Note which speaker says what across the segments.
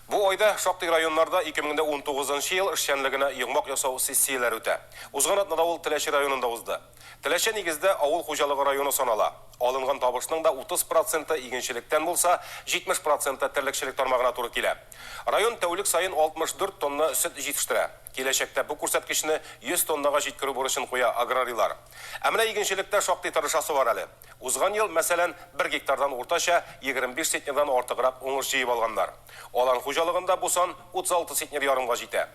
Speaker 1: Бу айда шактый районнарда 2019 нчы ел эшчәнлегенә йомгак ясау сессияләре үтә. Узган атнада ул Теләче районында узды. Теләче нигездә авыл хуҗалыгы районы санала. Алынган табышның да 30 проценты игенчелектән булса, 70 проценты терлекчелек тармагына туры килә. Район тәүлек саен 64 тонна сөт җитештерә. Киләчәктә бу күрсәткечне 100 тоннага җиткерү бурычын куя аграрийлар. Ә менә игенчелектә шактый тырышасы бар әле. Узган ел, мәсәлән, бер гектардан уртача 25 центнердан артыграк уңыш җыеп алганнар. Алан хуҗалыгында бу сан 36 центнер ярымга җитә.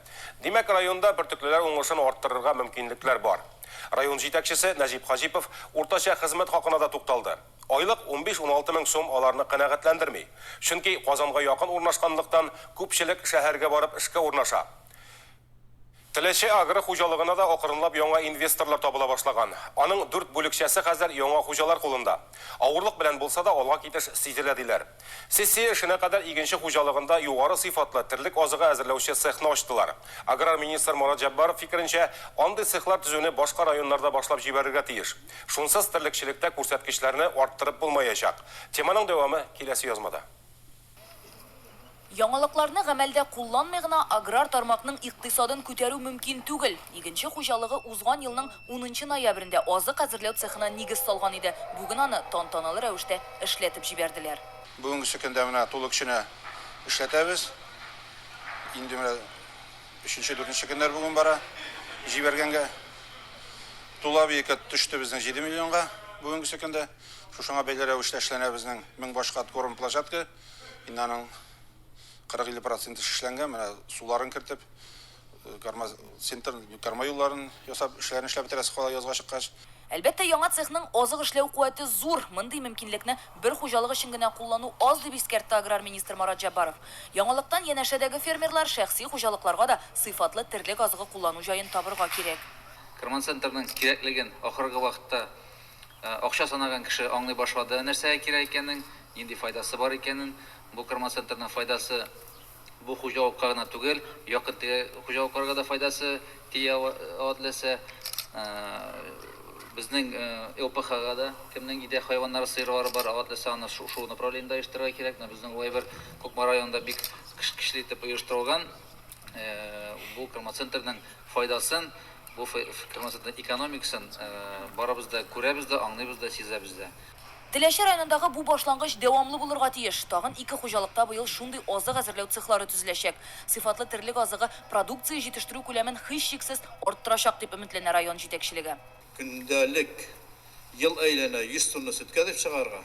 Speaker 1: Димәк, районда бөртеклеләр уңышын арттырырга мөмкинлекләр бар. Район җитәкчесе Нәҗип Хаҗипов уртача хезмәт хакына да тукталды. Айлык 15-16 мең сум аларны канәгатьләндерми. Чөнки Казанга якын урнашканлыктан, күпчелек шәһәргә барып эшкә урнаша. Теләче агро хуҗалыгына да акрынлап яңа инвесторлар табыла башлаган. Аның дүрт бүлекчәсе хәзер яңа хуҗалар кулында. Авырлык белән булса да, алга китеш сизелә, диләр. Сессия эшенә кадәр Игенче хуҗалыгында югары сыйфатлы терлек азыгы әзерләүче цехны ачтылар. Аграр министр Марат Җәббаров фикеренчә, андый цехлар төзүне башка районнарда башлап җибәрергә тиеш. Шунсыз терлекчелектә күрсәткечләрне арттырып булмаячак. Теманың дәвамы киләсе язмада. Яңалыкларны гамәлдә кулланмый гына аграр тармакның икътисадын күтәрү мөмкин түгел. Игенче хуҗалыгы узган елның унынчы ноябрендә азык әзерләү цехына нигез салган иде, бүген аны тантаналы рәвештә эшләтеп җибәрделәр. Бүгенге көндә менә тулы көченә эшләтәбез. Инде менә өченче-дүртенче көннәр бүген бара. Җибәргәнгә Тула Биекәт төште безнең җиде миллионга бүгенге көндә. Шушыңа бәйле рәвештә эшләнә безнең мең баш кат корм площадка. Инде аның 40-50 проценты шишләнгән. Менә суларын кертеп, карма центр, карма юлларын ясап, эшләрен эшләп бетерәсе кала язга чыккач. Әлбәттә, яңа цехның азык эшләү куәте зур. Мондый мөмкинлекне бер хуҗалык өчен генә куллану аз, дип искәртте аграр министр Марат Җәббаров. Яңалыктан янәшәдәге фермерлар, шәхси хуҗалыкларга да сыйфатлы терлек азыгы куллану җаен табырга кирәк. Карманцентрның кирәклеген ахыргы вакытта Акча санаган кеше аңлый башлады, нәрсәгә кирәк икәнен, нинди файдасы бар икәнен. Бу Кормоцентрның файдасы бу хуҗалыкка гына түгел, якын-тирә хуҗалыкларга да файдасы тия ала теләсә. Безнең ЛПХга да кемнең өйдә хайваннары, сыерлары бар, аңа теләсә аны шул направлениедә оештырырга кирәк. Менә безнең улай бер Кукмара районында бик көчле итеп оештырылган. Бу Кормоцентрның файдасын Бу фермасының экономикасын барыбыз да күрәбез дә, аңлыйбыз да, сизәбез дә. Теләче районындагы бу башлангыч дәвамлы булырга тиеш. Тагын ике хуҗалыкта быел шундый азык әзерләү цехлары төзеләчәк. Сыйфатлы терлек азыгы продукция җитештерү күләмен һичшиксез арттырачак, дип өметләнә район җитәкчелеге. Көндәлек ел әйләнә 100 тонна сөткә дип чыгарга.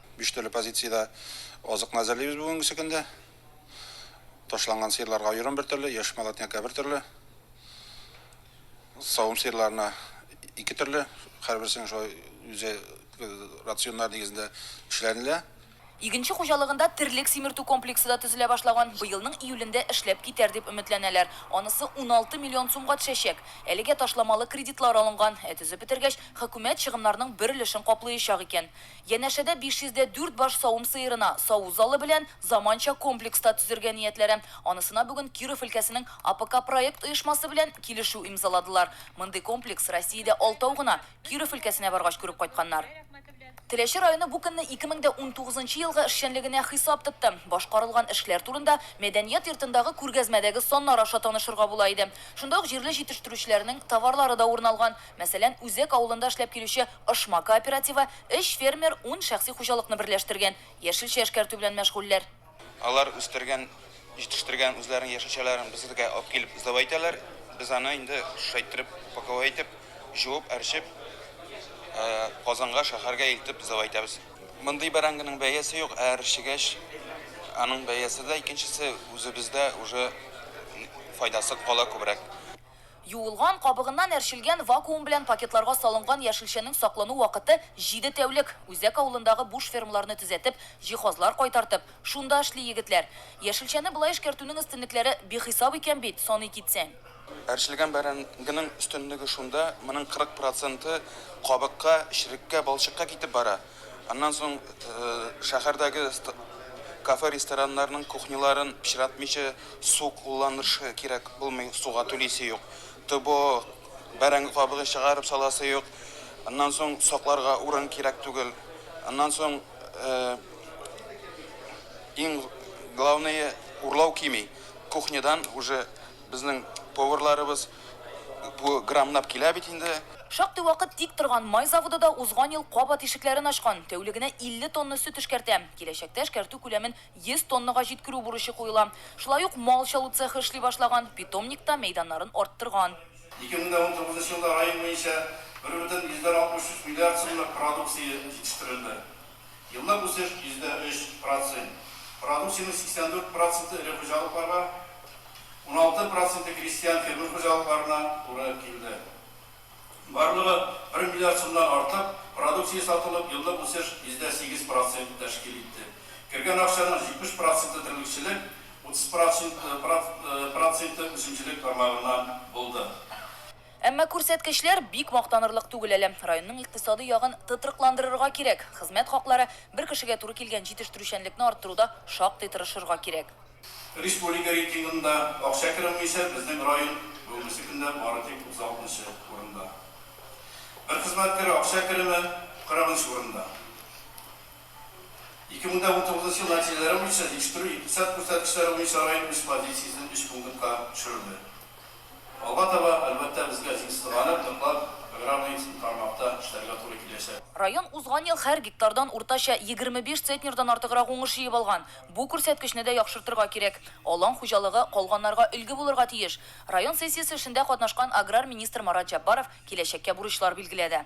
Speaker 1: Биш төрле позициядә азыкны әзерлибез бүгенгесе көндә. Ташланган сыерларга айран бер төрле, яшь молотнякка бер төрле. Савым сыерларына ике төрле, һәрберсенең шулай үзе э, рационнар нигезендә эшләнелә. Игенче хуҗалыгында терлек симертү комплексы да төзелә башлаган. Быелның июлендә эшләп китәр дип өметләнәләр. Анысы 16 миллион сумга төшәчәк. Әлегә ташламалы кредитлар алынган, ә төзеп бетергәч, хөкүмәт чыгымнарның бер өлешен каплыячак икән. Янәшәдә 500 дә дүрт баш савым сыерына саву залы белән заманча комплекс та төзергә ниятләре. Анысына бүген Киров өлкәсенең АПК проект оешмасы белән килешү имзаладылар. Мондый комплекс Россиядә алтау гына, Киров өлкәсенә баргач күреп кайтканнар. Теләче районы бу көнне 2019 нчы елгы эшчәнлегенә хисап тотты. Башкарылган эшләр турында Мәдәният йортындагы күргәзмәдәге саннар аша танышырга була иде. Шунда ук җирле җитештерүчеләрнең товарлары да урын алган. Мәсәлән, Үзәк авылында эшләп килүче Ошма кооперативы, өч фермер ун шәхси хуҗалыкны берләштергән, яшелчә эшкәртү белән мәшгульләр. Алар үстергән, җитештергән үзләренең яшелчәләрен безгә алып килеп сдавай итәләр, без аны инде шулай иттереп, упаковай итеп, җуып, әрчеп, Казанга, шәһәргә илтеп сдавай итәбез. Мондый бәрәңгенең бәясе юк, ә әрчегәч, аның бәясе дә, икенчесе, үзебездә уже файдасы кала күбрәк. Юылган, кабыгыннан әрчелгән, вакуум белән пакетларга салынган яшелчәнең саклану вакыты, җиде тәүлек. Үзәк авылындагы буш фермаларны төзәтеп, җиһазлар кайтартып, шунда эшли егетләр. Яшелчәне болай эшкәртүнең өстенлекләре бихисап икән бит, саный китсәң. Әрчелгән бәрәңгенең өстенлеге шунда, моның 40 проценты кабыкка, череккә, балчыкка китеп бара. Аннан соң шәһәрдәге кафе-рестораннарның кухняларын пычратмыйча су кулланыршы кирәк булмый, суга түлисе юк. ТО, бәрәңге кабыгын чыгарып саласы юк. Аннан соң сакларга урын кирәк түгел. Аннан соң иң главные урлау кими. Кухнядан уже безнең поварларыбыз, Бу граммлап килә бит инде. Шактый вакыт тик торган май заводы да узган ел кабат ишекләрен ачкан, тәүлегенә 50 тонна сөт эшкәртә. Киләчәктә эшкәртү күләмен 100 тоннага җиткерү бурычы куела. Шулай ук мал чалу цехы эшли башлаган, питомникта мәйданнарын арттырган. 2019 елда район буенча бер бөтен йөздән 63 миллиард сумлык продукция җитештерелде. Еллык үсеш, йөздә өч процент. Продукциянең 84 проценты эре хуҗалыкларга, уналты проценты крестьян-фермер хуҗалыкларына туры килде. Барлыгы бер миллиард сумнан артык продукция сатылып, еллык үсеш йөздә сигез процент тәшкил итте. Кергән акчаның 70 проценты терлекчелек, утыз проценты үсемчелек тармагыннан булды. Әмма күрсәткечләр бик мактанырлык түгел әле. Районның икътисадый ягын тотрыкландырырга кирәк, хезмәт хаклары, бер кешегә туры килгән җитештерүчәнлекне арттыруда шактый тырышырга кирәк. Республика рейтингында акча керү буенча безнең район бүгенге көндә бары тик 36 нчы урында. Бер хезмәткәр акча кереме 40 нчы урында. 2019 нчы ел нәтиҗәләре буенча җитештерү икътисад күрсәткечләре буенча район үз позициясен өч пунктка төшерде. Алга таба, әлбәттә, безгә җиңсез галәм ныклап программаистн тармакта эшләргә туры киләчәк. Район узган ел һәр гектардан уртача егерме биш цетнердан артыграк уңыш җыеп алган. Бу күрсәткечне дә яхшыртырга кирәк. Алан хуҗалыгы калганнарга өлге булырга тиеш. Район сессиясе эшендә катнашкан аграр министр Марат Җәббаров киләчәккә бурычлар билгеләде.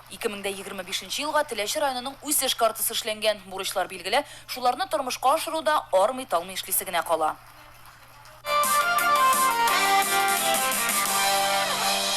Speaker 1: Ике мең дә егерме бишенче елга Теләче районының үсеш картасы эшләнгән. Бурычлар билгеле, шуларны тормышка ашыруда армый-талмый эшлисе генә кала.